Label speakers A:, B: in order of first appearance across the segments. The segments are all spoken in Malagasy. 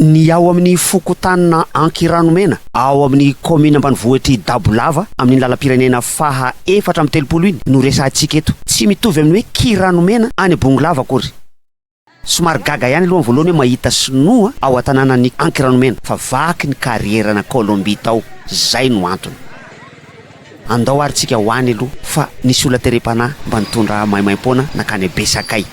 A: Ny ao amin'ny fokontanina Ankiranomena, ao amin'ny kaomina ambanivohitr'i Dabolava, amin'iny lalam-pirenena faha efatra amby telopolo iny no resahantsika eto. Tsy mitovy amin'ny hoe Kiranomena any Bongolava akory. Somary gaga ihany aloha amin'ny voalohany hoe mahita sinoa ao an-tanànan'i Ankiranomena, fa vaky ny karierana Colombie tao, izay no antony. Andao ary tsika ho any aloha fa nisy olona terem-panahy mba nitondra maimaim-poana nankany Besakay.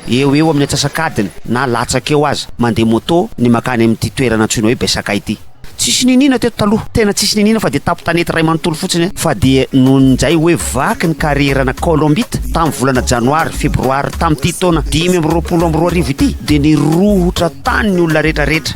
A: Eo eo amin'ny antsasak'adiny na latsaka eo aza, mandeha moto ny mankany amin'ity toerana antsoina hoe Besakay ity. Tsisy niniana teto taloha, tena tsisy niniana fa dia tapo-tanety iray manontolo fotsiny fa dia noho ny njay hoe vaky ny karierana Colombite tamin'ny volana Janoary, Febroary tamin'ity taona dimy amby roapolo amby roa arivo ity dia nirohotra tany ny olona rehetra rehetra.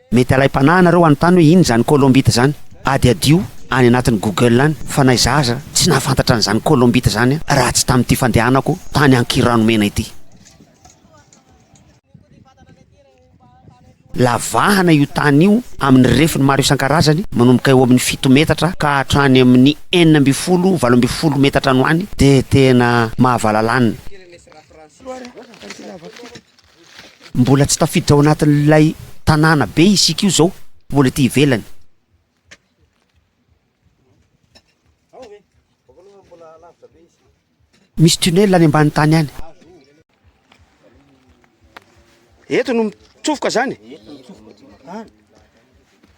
A: Mety alaim-panahy anareo anontany hoe inona izany colombite izany? Adiadio any anatin'ny google any fa na izaho aza tsy nahafantatra an'izany colombite izany raha tsy tamin'ity fandehanako tany Ankiranomena ity. Lavahana io tany io amin'ny refiny maro isan-karazany manomboka eo amin'ny fito metatra ka hatrany amin'ny enina ambin'ny folo, valo ambin'ny folo metatra any ho any dia tena mahavalalana. Mbola tsy tafiditra ao anatin'ilay tanàna be isika io zao, mbola ety ivelany. Misy tunnel any ambany tany any. Eto no mitsofoka zany?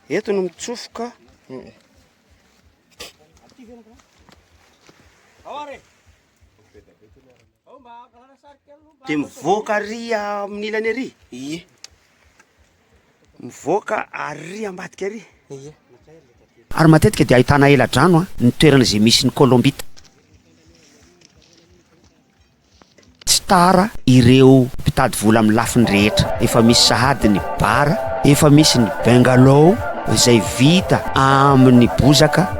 A: Eto no mitsofoka. Dia mivoaka ary amin'ny ilany ary? Ie. Mivoaka ary ambadika ary? Ie. Ary matetika dia ahitana ela-drano ny toerana izay misy ny kolombita. Tsy tara ireo mpitady vola amin'ny lafiny rehetra. Efa misy sahady ny bar, efa misy ny bungalow izay vita amin'ny bozaka.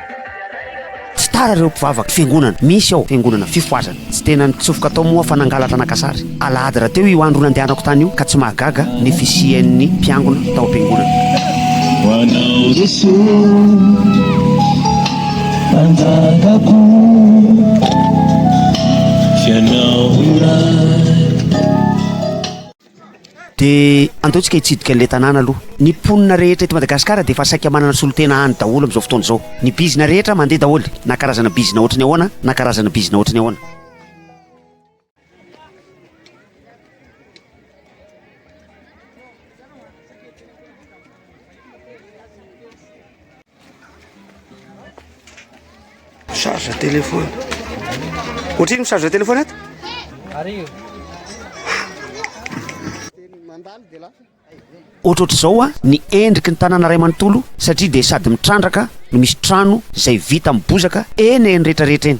A: Tsy tara ireo mpivavaka fiangonana misy ao fiangonana fifohazana. Tsy tena nitsofoka tao moa aho fa nangalatra naka sary. Alahady rahateo io andro nandehanako tany io ka tsy mahagaga ny fisian'ny mpiangona tao am-piangonana. Dia andao tsika hitsidika an'ilay tanàna aloha. Ny mponina rehetra eto Madagasikara dia efa saika manana solontena any daholo amin'izao fotoana izao. Ny bizina rehetra mandeha daholo, na karazana bizina ohatry ny ahoana na karazana bizina ohatry ny ahoana. Charge téléphone. Ohatrino charge téléphone ato? Arivo. Ohatrohatr'izao ny endriky ny tanàna iray manontolo satria dia sady mitrandraka no misy trano izay vita amin'ny bozaka eny eny rehetra rehetra eny.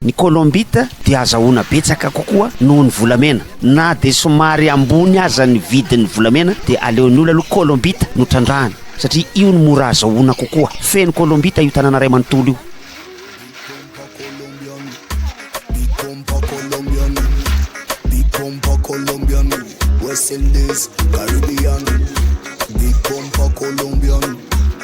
A: Ny kolombita dia azahoana betsaka kokoa noho ny volamena. Na dia somary ambony aza ny vidin'ny volamena dia aleon'ny olona aloha kolombita no trandrahany satria io no mora azahoana kokoa. Feno kolombita io tanàna iray manontolo io.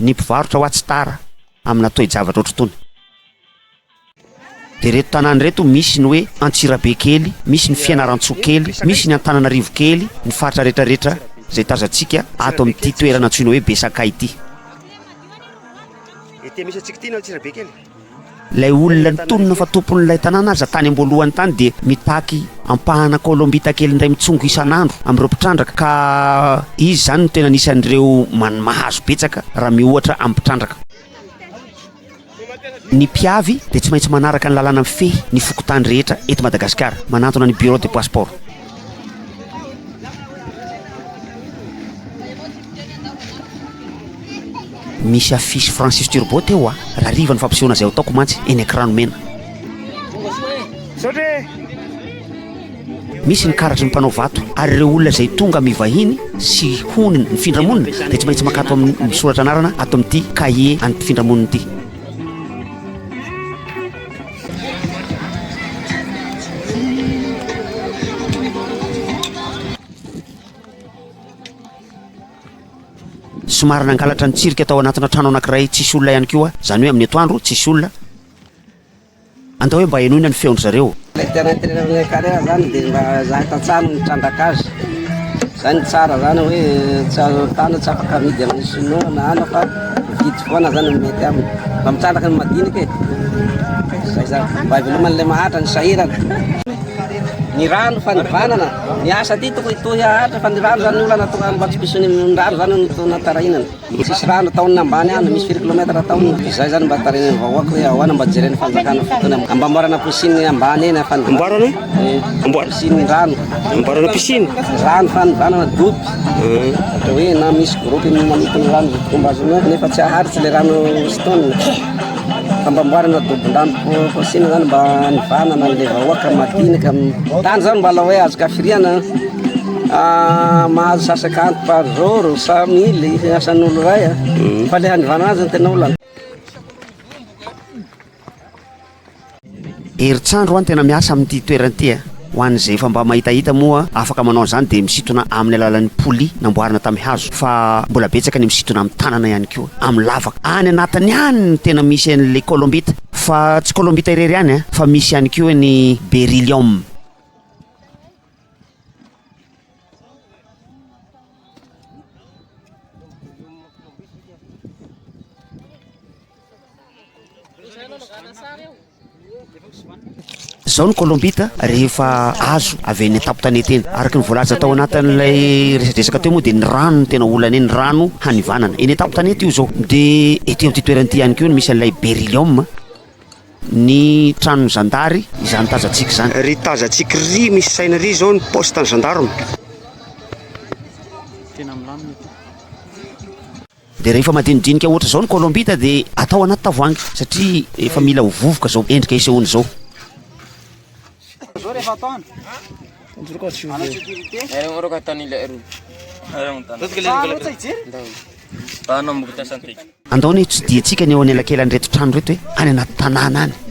A: ny mpivarotra ao Atsitara amina toe-javatra ohatr'itony. Dia ireto tanàna ireto, misy ny hoe Antsirabe kely, misy ny Fianarantsoa kely, misy ny Antananarivo kely, ny faritra rehetra rehetra izay tazantsika ato amin'ity toerana antsoina hoe Besakay ity. Ity misy antsika ity ny Antsirabe kely. Ilay olona nitonona fa tompon'ilay tanàna aza tany am-boalohany tany dia mitaky ampahana Kolombita kely indray mitsongo isan'andro amin'ireo mpitrandraka ka izy izany no tena anisan'ireo man mahazo betsaka raha miohatra amin'ny mpitrandraka. Ny mpiavy dia tsy maintsy manaraka ny lalàna mifehy ny fokontany rehetra eto Madagasikara, manantona ny Bureau de Passeport. Misy affiche Francis Turbo teo a! Raha riva ny fampisehoana izay ataoko mantsy eny an-kirano mena. Misy ny karatry ny mpanao vato ary ireo olona izay tonga mivahiny sy hony mifindra monina dia tsy maintsy makato amin'ny misoratra anarana ato amin'ity kahie an'ny mpifindramonina ity. Somary nangalatra ny tsirika tao anatina trano anankiray tsisy olona ihany koa, izany hoe amin'ny atoandro tsisy olona. Andao hoe mba henoina ny feon-dry zareo. Ilay tena entraîneur-n'ny
B: Ekarera izany dia mba izahay tantsaha no nitrandraka azy. Zay no tsara zany hoe tsy azo tana tsy afaka amidy amin'ny sinoa na ana fa mividy foana zany no mety aminy mba mitrandraka ny madinika e zay zany mba hiveloman'le mahantra ny sahirana ny rano fa nivanana ny asa ty toko hitohy haharitra fa ny rano zany olana tonga mba tsy pisony ny rano zany no tona tarahinana Ny tsisy rano ny taonina ambany any, misy firy kilomètre ny taonina? Izay zany mba tarihin'ny vahoaka hoe ahoana mba jeren'ny fanjakana fotoana mba amboarana piscine ambany eny fa amboarana amboarana piscine rano amboarana piscine rano fanivanana dopy ohatra hoe na misy groupe manokana rano fomba azo nefa tsy aharitra le rano sitony Famboarana dobon-drambo fôsiny zany mba hanivanana an'ilay vahoaka madinika amin'ny tany zany mba hoe azo kafiriana ah, mahazo sasaka anty par jour sa mily asan'olo ray ah. mm. fa le hanivanana azy no tena olana
A: Herintsandro an tena miasa amin'ity toerana ity a! Ho an'izay efa mba mahitahita moa afaka manao an'izany dia misintona amin'ny alalan'ny poly namboarina tamin'ny hazo fa mbola betsaka ny misintona amin'ny tanana ihany koa amin'ny lavaka. Any anatiny ihany no tena misy an'ilay colombite fa tsy colombite irery ihany an fa misy ihany koa ny beryllium. Izao ny Kolombita rehefa azo avy any an-tampon-tanety eny. Araka ny voalaza tao anatin'ilay resadresaka teo moa dia ny rano no tena olana eny, ny rano hanivanana. Eny an-tampon-tanety io izao. Dia ety amin'ity toerana ity ihany koa no misy an'ilay Beryllium, ny tranon'ny zandary, izany tazantsika izany. Ry tazantsika ry misy saina ry izao ny poste-n'ny gendarme. Dia rehefa madinidinika ohatra izao ny kolombita dia atao anaty tavoahangy satria efa mila ho vovoka izao endrika isehoany izao. Andao anie ho tsidihintsika ny eo anelakelan'ireto trano ireto hoe any anaty tanàna any.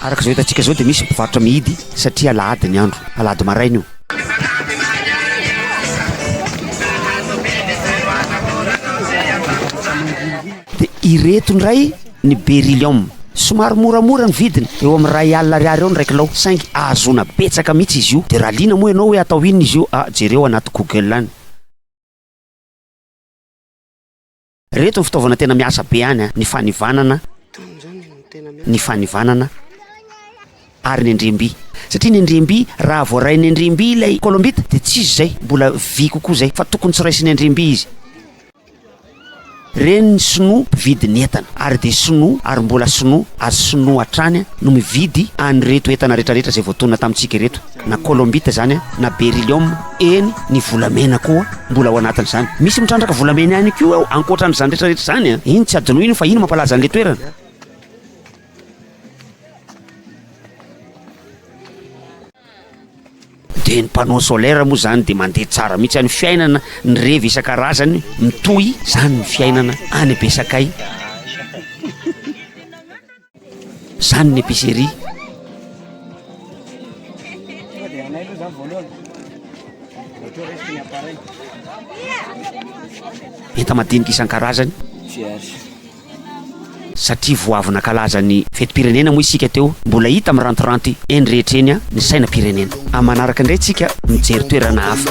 A: Araka izao hitantsika izao dia misy ny mpivarotra mihidy satria alahady ny andro, alahady maraina io. Dia ireto indray ny beryllium. Somary moramora ny vidiny, eo amin'ny iray alina ariary eo ny iray kilao, saingy ahazoana betsaka mihitsy izy io. Dia raha liana moa ianao hoe atao inona izy io, ah, jereo anaty google any. Reto ny fitaovana tena miasa be any an, ny fanivanana, ny fanivanana ary ny andriamby. Satria ny andriamby, raha voarain'ny andriamby ilay kolombita dia tsy izy izay, mbola vy kokoa izay fa tokony tsy raisin'ny andriamby izy. Ireny ny sinoa mpividy ny entana ary dia sinoa ary mbola sinoa ary sinoa hatrany no mividy an'ireto entana rehetrarehetra izay voatonona tamintsika ireto. Na kolombita zany an, na beryllium, eny ny volamena koa mbola ao anatin'izany. Misy mitrandraka volamena ihany koa ao ankoatran'izany rehetra rehetra izany an. Iny tsy adinoi iny fa iny mampalaza an'ilay toerana. Dia ny panneau solaire moa zany dia mandeha tsara mihitsy any fiainana ny revy isan-karazany mitohy zany ny fiainana any Besakay. Zany ny epicerie. Enta-madinika isan-karazany. Satria vao avy nankalaza ny fetim-pirenena moa isika teo, mbola hita mirantiranty eny rehetra eny ny sainam-pirenena. Amin'ny manaraka indray isika mijery toerana hafa.